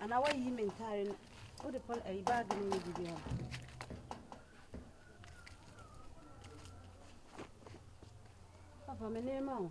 Ana wa yi mentare no o de pon ayi bag no ni bibi ho. Papa me nema o.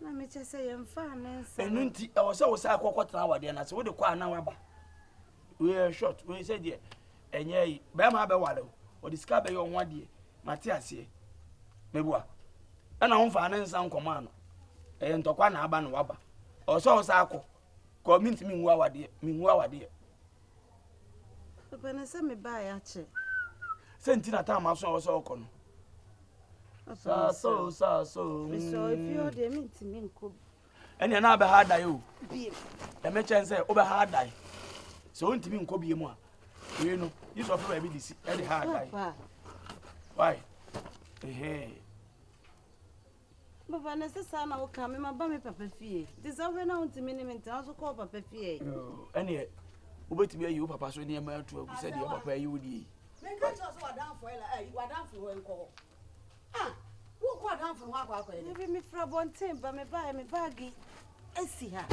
na mekyɛ sɛ yɛmfaa ne nsa ɛno nti ɛwɔ sɛ wo saa kɔkɔtena awadeɛ no ase wode kɔ a na waba woyɛ short woyɛ sɛ deɛ ɛnyɛ yi bɛrima abɛware wo ɔde sika bɛyɛ ɔho adeɛ mate aseɛ meboa ɛna womfaa ne nsa nkɔmaa no ɛyɛ ntɔkwa na aba na waba ɛwɔ sɛ wo saa kɔ kɔ mentumi nhu awadeɛ menhu awadeɛ ɛpɛ ne sɛ mebaeɛ akyɛ sɛ nti na tam aso a wɔsɛ ɔkɔ no saso saso mesɛ ɛfie hɔ deɛ mentumi nkɔ bi ɛnea na abɛha adae o ɛmɛkyɛn sɛ wobɛha adae sɛ wontumi nkɔ bie mu a wei no yi sɔfo baabi de si ɛde ha adae wai ɛhɛn Papa na ɛsɛ saa na wo ka me ma ba me papa fie nti sɛ wohwɛ na wo ntumi ne me ntena nso kɔ wo papa fie ɛ. Ɛneɛ wobɛtumi ayi wo papa so nneɛma atu agu sɛ deɛ papa ayi wo deɛ yi. Menka kyerɛ sɛ wadanfo ɛla eh, ayi wadanfo hɔ nkɔ hɔ ah wokɔ adanfo hɔ akɔ akɔ ɛdɛ. Ebi mefra bɔnten ba me baɛ me baagi esi ha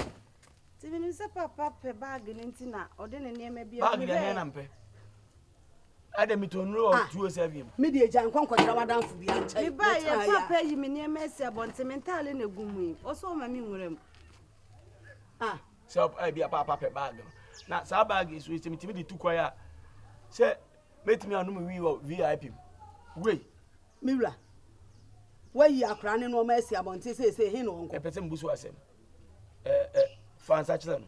nti menim sɛ papa pɛ baagi no nti na ɔde ne nneɛma bi agu hɛ. Baagi na hɛn na mpɛ. Ada mi tɔ nuro wɔ tuo sɛ wiem. Mi deɛ gya nkɔ nkɔkyerɛ w'adanfo bi ankyɛn. Mi ba yɛ papa yi mi nneɛma esi abɔnten mi ntaale na egu mu yi ɔsɔ ɔma mi nwura mu. Ah. Sɛ ebi apa apa pɛ baagi no na saa baagi yi so sɛ mitumi de tu kwan a sɛ metumi anom wii wɔ vip mu wei. Mi wura wayi akora ne nneɛma esi abɔnten sɛ ese he na ɔnkɔ. Ɛpɛ sɛ mbu so asɛm. Ɛɛ ɛ fansa kyerɛ no.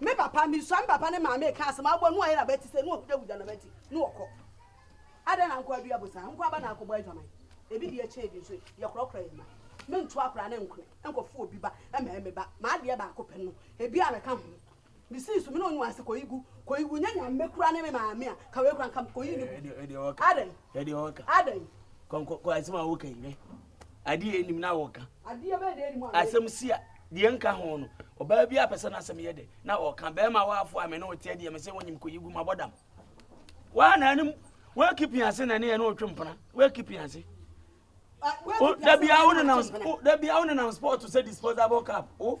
Me papa, misua me papa ne maame reka asɛm a, ɔbɔ ne wayera abati sɛ, ne wahugyahugya n'abati, ne wɔkɔ. Adɛn na nkoa dua bosan? Nkoa ba na akɔbɔ adwaman. Ebi deɛ kyɛn ebi nso, yɛkorɔkorɔ yɛn mma. Me ntoa koraa ne nkone nkɔfo obi ba mmɛyɛ me ba, m'adeɛ baako pɛ no, ebi a meka ho. Misii so, me ne ɔnua se kɔyi gu, kɔyi gu, nyɛ Nyame koraa ne me maame a, ka wei koraa nka me, kɔyi no gu. Adɛn? Adɛn? Kɔ, kɔ, kɔ, asɛm a woka yi, hwɛ, adeɛ ɛnim na wɔka asɛm si a deɛ nka ho no ɔbaa bi apɛ sɛ no asɛm yɛ dɛ na ɔka bɛrima waafo a me ne woteɛ deɛ me sɛ wonyim kɔyi gu mabɔ dam waa na anim woakipi ase na ne yɛ ne wotwe mpena woakipi ase da bia wo nenam sport sɛ disposable cap wo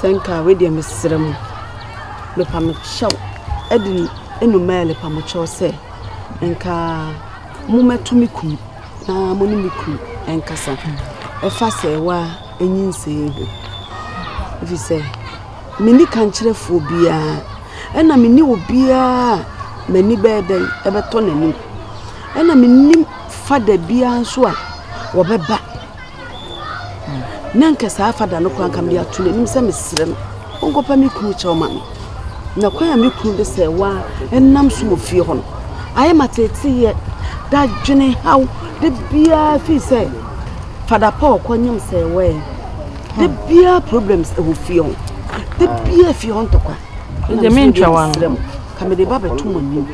Sɛ nka a, wei deɛ mesrɛ mo, mepa mo kyɛw, ɛde nnomaa ɛlepa mo kyɛw sɛ, nka momɛto me kunu na mo ne me kunu ɛnkasa ɛfa sɛ ɛwa ɛnyinsɛn ho. Ɛfiri sɛ, menni kankyerɛfoɔ biara, ɛna menni obiara a m'ani bɛyɛ dɛn ɛbɛtɔ n'anim, ɛna mennim fada biara nso a wɔbɛba. Na anka saa fada no koraa anka mede ato n'anim sɛ mesrɛ no ɔnkɔpa me kunu kyɛw ma me. Na kwan a me kunu de sɛ wa ɛnam so wɔ fie hɔ no, ayɛ ma teeteyɛ, dadwene haw, de biara fii sɛ fada pa ɔkɔ nyam sɛ wɛn. De biara problems ɛwɔ fie hɔ. De biara fie hɔ ntɔkwa. Ɛna mesrɛ mo, ka mede ba bɛto mo anim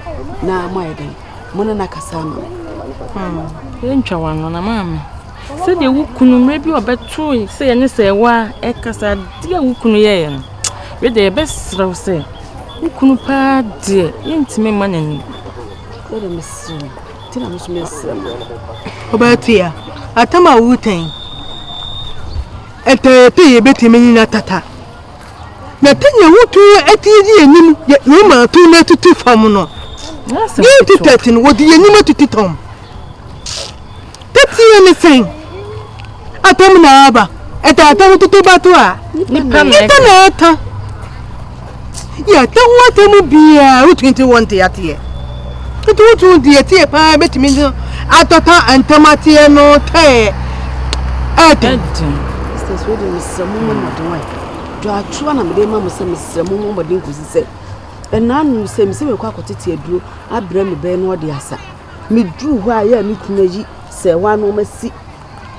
na moayɛ dɛn? mo ne no akasa ama me yɛntwa w'ano na maame sɛdeɛ wo kunu mmerɛ bi ɔbɛtoe sɛ yɛne sɛ ɛwɔ a ɛkasa adeɛ a wo kunu yɛeɛ no wei deɛ yɛbɛserɛ wo sɛ wo kunu paa deɛ yɛntumi mma n'ani wode mesrɛ wo nti na meso mesrɛ mo ɔbɛtua atam a wotɛn ɛtɛɛ pii yɛbɛtumi nyina tata Na te nea wotɔn atie di anim yɛ Roma to na tutu fam no. Yɛn ti tɛte no wɔde yɛn anim atutu tɔm. Tɛteɛ ne sɛn? Atɔm na aba. Ɛtɔ atɔm tutu bato a. Nipa na ɛka. Yɛtɔ ho atɛm biara wotumi te wɔn te ateɛ. Tutu wotu di atie paa betumi no atɔtɔ ntɛm ateɛ no tɛɛ ɛden. Srɛ mo mmɔ mmɔden wae. Dwatwoa na mede ma mo sɛ mesrɛ mo mmɔ mmɔden kɔsi sɛ ɛna ano sɛ mesɛ mekɔ akɔtete aduro abrɛ me bɛn na ɔde asa. Meduru hɔ a yɛ a me kunu ayi sɛ hɔ ano ɔma si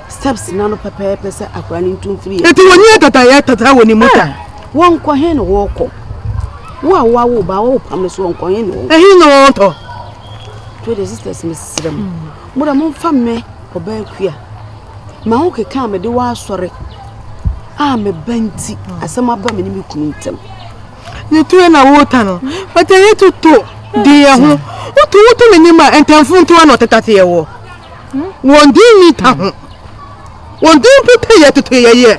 steps no ano pɛpɛɛpɛ sɛ akora no ntu mfiri yɛ. Eti wɔn nyɛ tata yɛ tata wɔ ne mu ta. Wɔn kɔ he na wɔkɔ. Wo a wawo ba wɔwɔ pam no so wɔn kɔ he na wɔn. Ɛhe na wɔn tɔ. Twɛ de sisters mesrɛ mo. Mo da mo nfa mɛ ɔbaa kua. Ma wo keka a mede wo asɔre a meba nti asɛm aba me ne me kunu ntam. Ne to na wo ta no. Pata ye to to di ye ho. Wo to wo to me ni ma entamfo nto ana otetate ye wo. Won di ni ta ho. Won di mpo ta ye to to ye ye.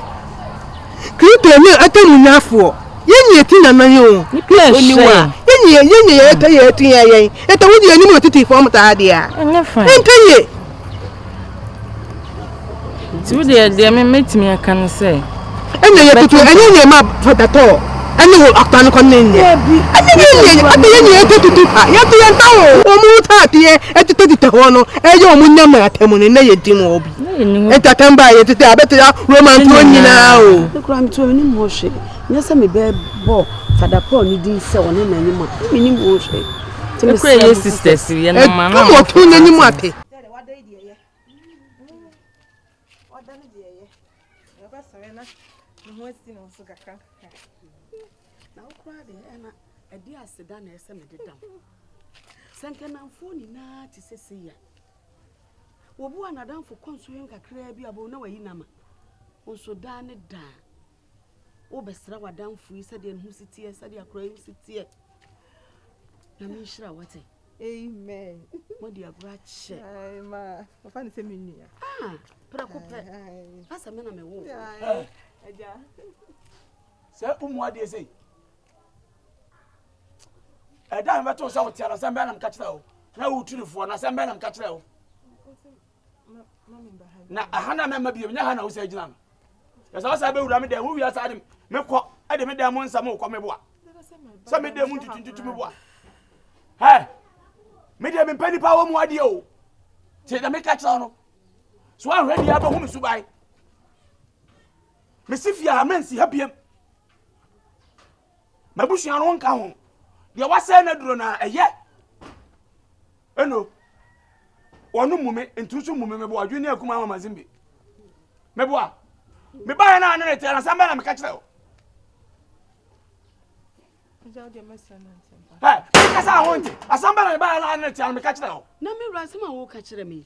Krito ni ata mu nyafo. Ye ni eti na na ye o. Krito ni wa. Ye ni ye ni ye ta ye tu ye ye. Eta wo di ye ni mo titi fo mo ta ha dia. Enta ye. Nti wo deɛ deɛ me mɛtumi aka no sɛ. Ɛnyɛ yɛ tutu ɛnyɛ yɛ ma fɔtatɔ ɛne ho akpa no kɔne nyɛ. Ɛnyɛ yɛ yɛ ɛde yɛ yɛ ɛtɛ tutu pa yɛ te yɛ nta o. Wɔn mu ta ateɛ ɛtete tete hɔ no ɛyɛ wɔn nyɛ ma atɛm no na yɛ di mu obi. Ɛtɛ atɛm ba yɛ tete abɛte ya romance wɔn nyinaa o. Ɛkura mi tuo mi ni mu hɔ hwɛ. Nyɛ sɛ mebɛbɔ Fada Paul ne din sɛ ɔne n'anyim a, na mennim ho hwee. Nti mesrɛ mo sɛ, ɛduru ɔko n'anyim a pɛ. wobɛsra w'adamfo yi sɛdeɛ ne ho si teɛ sɛdeɛ akora yi si teɛ nyame nhyira wate amen mode agorɔ akyɛ ɔfa ne sɛ me nua ah, prɛko pɛ asɛ me na mewo agya sɛ womu adeɛ sei ɛda mebɛtoo sɛ woteara sɛ mbɛ nam ka kyerɛ wo na wotirifoɔ na sɛ mbɛ nam ka kyerɛ wo na aha na mɛma bio nyɛ ha na wosan gyina no ɛsɛ wosan bɛwura me dɛn wo wia saa de mekɔ ɛde me dɛn mo nsɛm wokɔ me boa sɛ me dɛn mu ntutuntutu me boa hɛ me deɛ mempɛ nipa wɔ mu adeɛ o nti na meka kyerɛ no so anhwɛ deɛ abɛhu me subae mesi fie a mensi ha biam M'abusua no nka ho. Deɛ wasɛe n'aduro no a, ɛyɛ. Eno, wɔn mmu me, ntu nso mmu me, meboa adwene ne akuma ama Mazimbi. Meboa. Mebaeɛ no a ne ne teɛ no, asɛm bɛn na meka kyerɛ wo? Hɛ, mekasa a wonte. Asɛm bɛn na mebaeɛ no a ne ne teɛ no meka kyerɛ wo? Na me wura, asɛm a woka kyerɛ me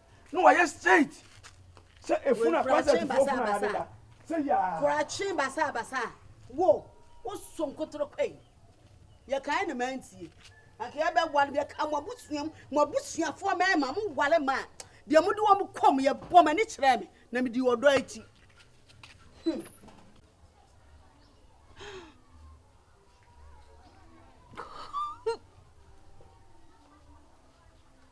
na wayɛ straight sɛ efunu a kɔnsɛt fo funu a yɛde da sɛ yaa. kurakye basabasa wo wo so nkotoro kɔ yi yɛ kan na maa ntie anka yɛ bɛ wale yɛ ka mo abusua mu mo abusuafoɔ mɛɛma mo wale ma deɛ mo de wɔn kɔ mo yɛ bɔ mo ani kyerɛ me na me di ɔdɔ akyi. Hmm.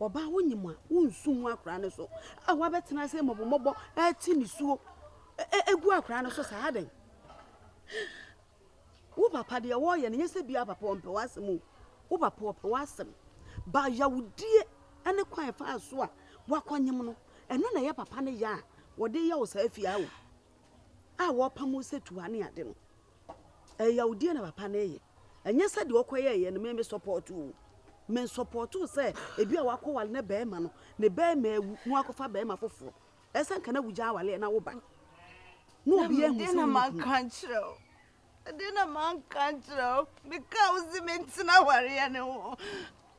Ɔbaa wonyim a wonnsu ngu akora no so a wɔabɛtsena ase mbɔbɔmbɔbɔ atse nisuo egu akora no so saa adɛn? Wo papa deɛ wɔreyɛ no nyɛ sɛ bia papa ɔmpɛ w'asɛm o, wo papa ɔpɛ w'asɛm ba yawdie ne kwan ɛfaa so a wakɔnyem no ɛno na ɛyɛ papa no ya a wɔde yɛ wo saa fie awo a wɔpam wo sɛ tuha ne ade no. Ɛyɛ yawdie na papa no reyɛ. Ɛnyɛ sɛ deɛ ɔkɔyɛeɛ no me me support o. Me support sɛ ebi a wakɔwale ne bɛrima no, ne bɛrima awu na wakɔfa bɛrima foforɔ. Ɛsɛ nka na wogyaa awaleɛ na woba. Na obi ahu sɛ wonyi kunu. Na me deɛ na manka nkyerɛ wo. Ɛdeɛ na manka nkyerɛ wo. Mekaa wo se mentena awareɛ no ho.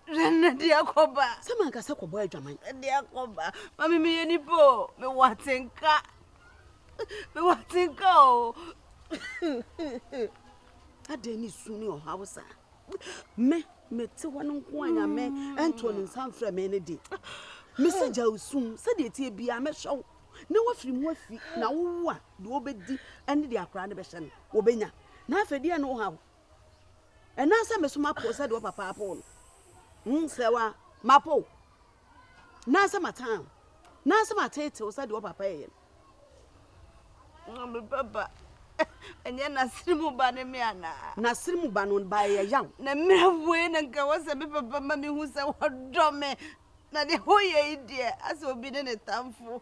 Hwɛ no de akɔba. Sɛ mankasa kɔbɔ adwaman. De akɔba. Mami meyɛ nipa o. Mewɔ atenka. Mewɔ atenka o. Adɛn ne su ne ɔhaw saa? Me mete hɔ no nko a nyame ɛntoo ne nsa mfrɛ me ne de. Mese gya wo sum sɛdeɛ tie biara mɛhyɛ wo na woafiri mu afi na wowu a deɛ wobɛdi ne deɛ akora no bɛhyɛ no wɔbɛnya na afei deɛ ne wohaw Ɛnã sɛ me so mapo wo sɛdeɛ wo papa apoo no. Hmm, srɛ wa, mapo wo. Nã sɛ matan wo. Nã sɛ mateete wo sɛdeɛ wo papa yɛeɛ no. Na me baba, ɛnyɛ n'asene mu ba ne me anaa? N'asene mu ba no ba yɛ yaw. Na mmerɛ wei na nka ɛwɔ sɛ me papa ma mehu sɛ wɔdɔ me. Na deɛ woyɛ yi deɛ, asɛ obi ne ne tamfo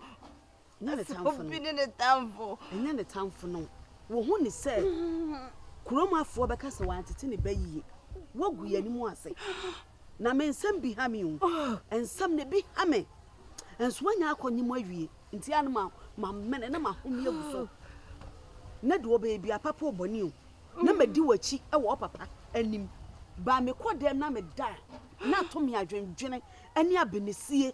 Ɛnyɛ ne tamfo no. Obi ne ne tamfo. Ɛnyɛ ne tamfo no. Wɔhu ne sɛ kurom afoɔ bɛka sɛ wantete ne ba yie. Woagu yɛn anim ase. Na me nsɛm bi ha me o. Nsɛm no bi ha me. Nso woanya akɔnye mu awie. Nti a no ma mamene na mahome agu so. Na deɛ ɔbɛyɛ bia papa o bɔne o. Na madi w'akyi wɔ wo papa anim. Baa mekɔ dɛm na meda a na ato me adwendwene ne abɛnesie.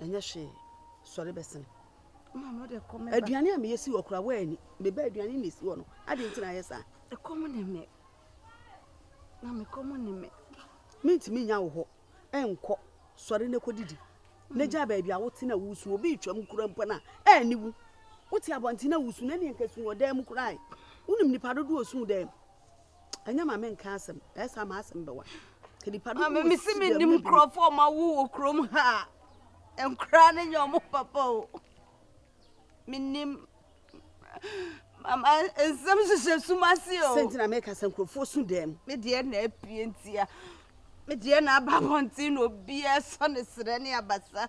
ɛnyɛ hwee sɔre bɛsen aduane a meyɛ si wɔ koraa woani meba aduane na ɛsi wɔ no ade nti na ayɛ saa ɛkɔm ne me na mekɔm ne me mentumi nya wo hɔ ɛnkɔ sɔre na kɔdidi na gya baabi a wote na wusu obi retwam kura mpo no a ɛne wu wote abɔnten na wusu na neɛ nka su wɔ dan mu koraa wonim nipa dodoɔ su dan mu Ɛnyɛ ma menka asɛm, ɛyɛ saa m'asɛm bɛwa. Maame me se menim nkurɔfoɔ ɔma wo wɔ kurom ha a nkoraa no nyɛ ɔmo papa o menim mama nsɛm hyehyɛ sum ase o sɛ ntina meka sɛ nkurɔfoɔ su dɛm me deɛ na apue ntia me deɛ na aba abɔnten na obiaa sɔ ne serɛ ne abasa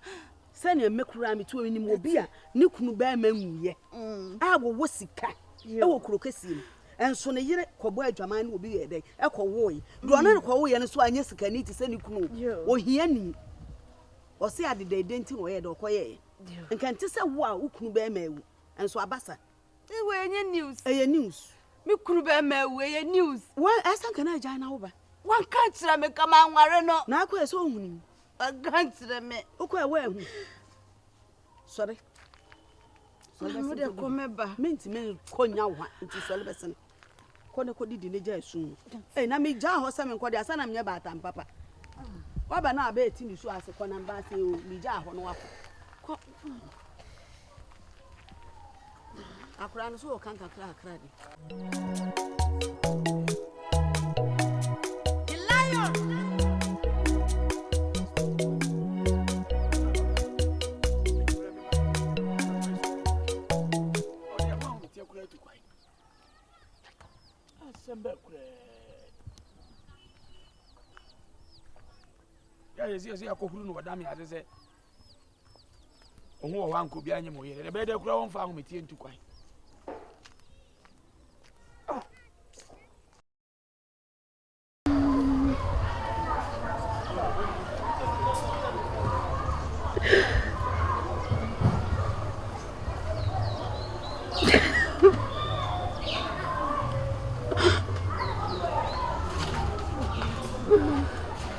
sɛnea me koraa metu menim obi a ne kunu bɛrima nwuiɛ mm. a wɔwɔ sika wɔ kuro kɛseɛ mu Nso ne yere kɔbɔɔ adwaman ne obi yɛɛ dɛn? Ɛkɔwoe. Deɛ ɔne no kɔwoeɛ no nso anyɛ sikani te sɛ ne kunu o. Ohiani. Ɔse adeda ɛdɛ nti na ɔyɛɛ dɛ ɔkɔyɛɛ. Nka ɛnte sɛ wo a wo kunu bɛrima awu. Nso aba sa. Ei wei ɛnyɛ news. Ɛyɛ news. Me kunu bɛrima awu ɛyɛ news. Wo ɛsɛ nka na agyae na wo ba. Wanka nkyerɛ me nka manware no. Na akɔɛ sɛ ɔhunii. Wanka nkyerɛ me. Wokɔɛ woanhu. Sɔre. Sɔre bɛsene kɔdidi. Kɔ mɛba. Mentumi nkɔ nya wo ha nti sɔre bɛsene. Kɔ ne kɔdidi ne gya esu mu. Ee na megyaa hɔ sɛ menkɔ de asa na menyɛ baatan papa. Waba na abɛɛ ti ne su ase kɔ na mba ase o megyaa hɔ no wakɔ. Kɔ. Akwadaa no so wɔ kan kakra kakra bi. yɛsi yɛsi akɔhuru no wɔda me ase sɛ ɔho wɔ hɔ anka obi anyɛ ma ɔyɛ dɛ ɛbɛyɛ dɛ koraa wɔmfa ahometeɛ ntu kwan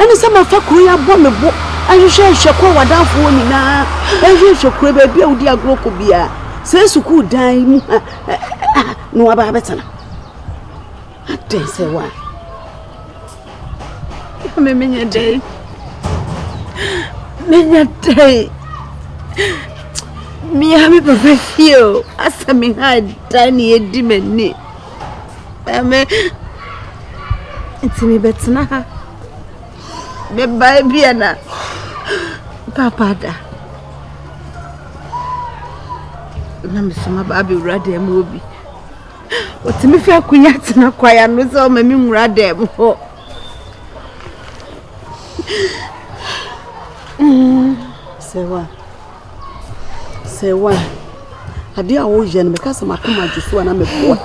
Ɛne sɛ mafa kuro yi abɔ me bo ahwehwɛ nhwɛ kɔ w'adamfo hɔ nyinaa ɛhwɛ nhwɛ kuro baabi a wodi agorɔ kɔ biara sɛ sukuu dan yi mu ha aha na waba abɛtena adɛn sɛ wa me menyɛ dɛn menyɛ dɛn mea me papa fie o asɛ me ha dan ne ɛdi m'ani Ɛmɛ, nti me bɛ tena ha. Bɛ ba ebi a na papa da. Na me soma ba abɛ wura dɛm mu obi. Otumi fɛ akunya tena kwaya no sɛ ɔma me nwura dɛm hɔ. Mm, sɛ wa. Sɛ wo a, adeɛ a woyɛ no mɛka sɛ makoma gye so a na meboa.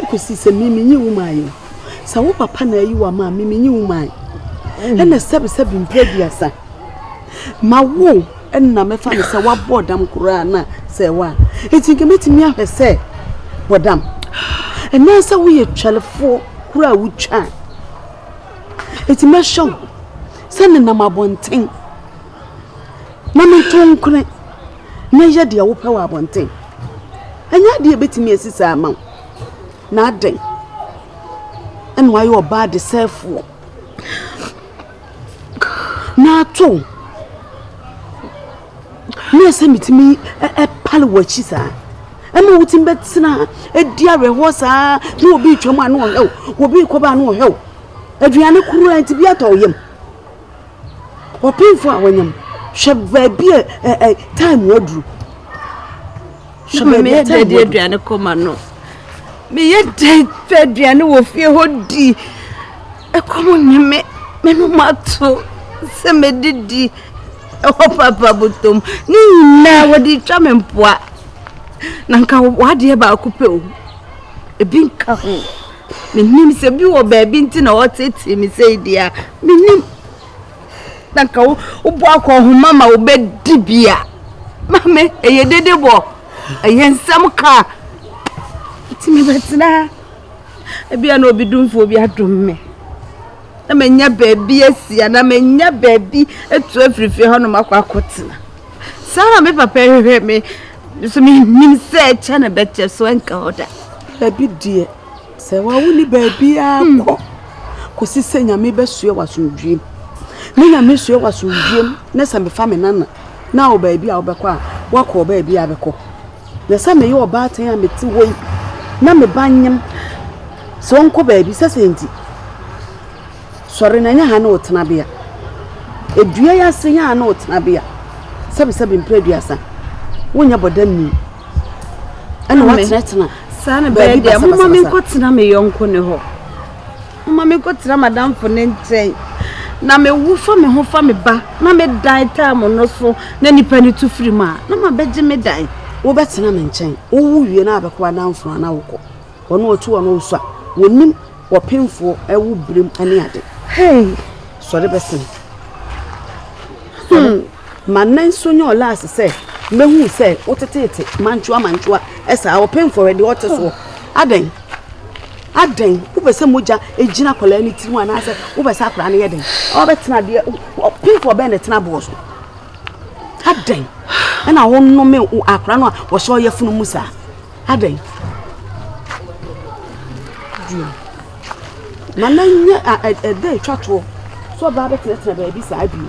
Ɛkɔsi sɛ me menye wo maa yɛ. Sɛ wo papa na ayi wa maa me menye wo maa. Ɛna sɛbisɛbi mpɛ aduasa. Ma wo ɛna mɛfa no sɛ wabɔ dam koraa na sɛ wo a. Eti nka mɛtumi ahwɛ sɛ bɔ dam. Ɛna sɛ woyɛ twɛlefoɔ koraa wotwa. Eti mɛhyɛ wo sɛ nenam abɔnten. na meto nkone na yɛ deɛ wopɛ wɔ abɔnten. Ɛnyɛ adeɛ a ɛbɛtumi asi saa ama wo. Na adɛn ɛna wayɛ ɔbaa adesɛefoɔ na ato wo na ɛsɛ metumi ɛpale wɔ akyi saa ɛma wotumi bɛtena ɛdi awerɛhoɔ saa na obi retwam a na ɔhɛw obi rekɔba a na ɔhɛw aduane koro a nti bi atɔ wo yam Ɔpemfoɔ a wanya mu, hwɛ baabi a ɛ ɛ time aduru. Hwɛ baabi a time aduru. aduane kɔma no. Meyɛ dɛn fɛ aduane wɔ fie hɔ di. Ɛkɔm ne me, me no mato sɛ medidi. Ɛhɔ papa botom. Ne nyinaa wɔde twa me mpoa. Na nka wadeɛ baako pɛ o. Ebi nka ho. Mennim sɛ bi wɔ baabi nti na wɔtetee me sei deɛ a, mennim. Na nka wo wobɔ akɔ nhoma ma wobɛdi bi a. Maame, ɛyɛ dede bɔ, ɛyɛ nsɛm ka. Nti mebɛtena ha. Ebia na obi domfoɔ bi adom me. Na manya baabi asia, na manya baabi atu afiri fie hɔnom akɔ akɔtena. Saa na me papa hwehwɛ me. So me nim sɛ ɛkyɛ na bɛkyɛ so ɛnka hɔ da. Dabi deɛ, sɛ wawo ni baabiara hmm. kɔ kɔsi sɛ nyame bɛsoɛ wasomdwiem. Ne nyame soɛ wasomdwiem ne sɛ mefa me nana na wɔ baabi a wobɛkɔ a wakɔ baabi a bɛkɔ. Na sɛ meyɛ ɔbaatan a mete hɔ yi na meba nyem sɛ ɔnkɔ baabi sɛ sɛ nti Sɔre na nyɛ ha ne wo tenabea. Dua yi ase nyɛ ha ne wo tenabea. Sɛbesɛbe mpere aduasa. Wonyɛ bɔda nni. Ɛna woatenatena. Saa na bɛyɛ deɛ. Moma me nkɔtena me yɔnko ne hɔ. Moma me nkɔtena madamfo ne nkyɛn. Na mewo fa me ho fa me ba. Na me dan taa mo no so. Na nipa ne tu firi mu a. Na ma bɛgye me dan. Wobɛtena me nkyɛn. Wowo wie na abɛkɔ adamfo anaa wokɔ. Wɔn a wɔtu wɔn wo so a. Wɔnim. W'apemfoɔ wo berem ne ade. Hey! Sɔre bɛsen. Hmm. Ma nan so nyɛ ɔlaase sɛ mɛhu sɛ woteteete mantwoa mantwoa ɛsaa wɔpemfoɔ wɛde ɔte soɔ adɛn adɛn wopɛ sɛ mogya ɛgyina akwadaa no tirim anaasɛ wopɛ sɛ akwadaa no yɛ den ɔbɛtena adeɛ ɔpemfoɔ bɛn na ɛtena boɔ so adɛn ɛna wonome akwadaa no a wɔhyɛ ɔyɛ funu mu saa Adɛn? Dwom. Na na nyɛ a ɛda ɛtwa toɔ sɛ ɔbaa bɛtenatena baabi saa bio.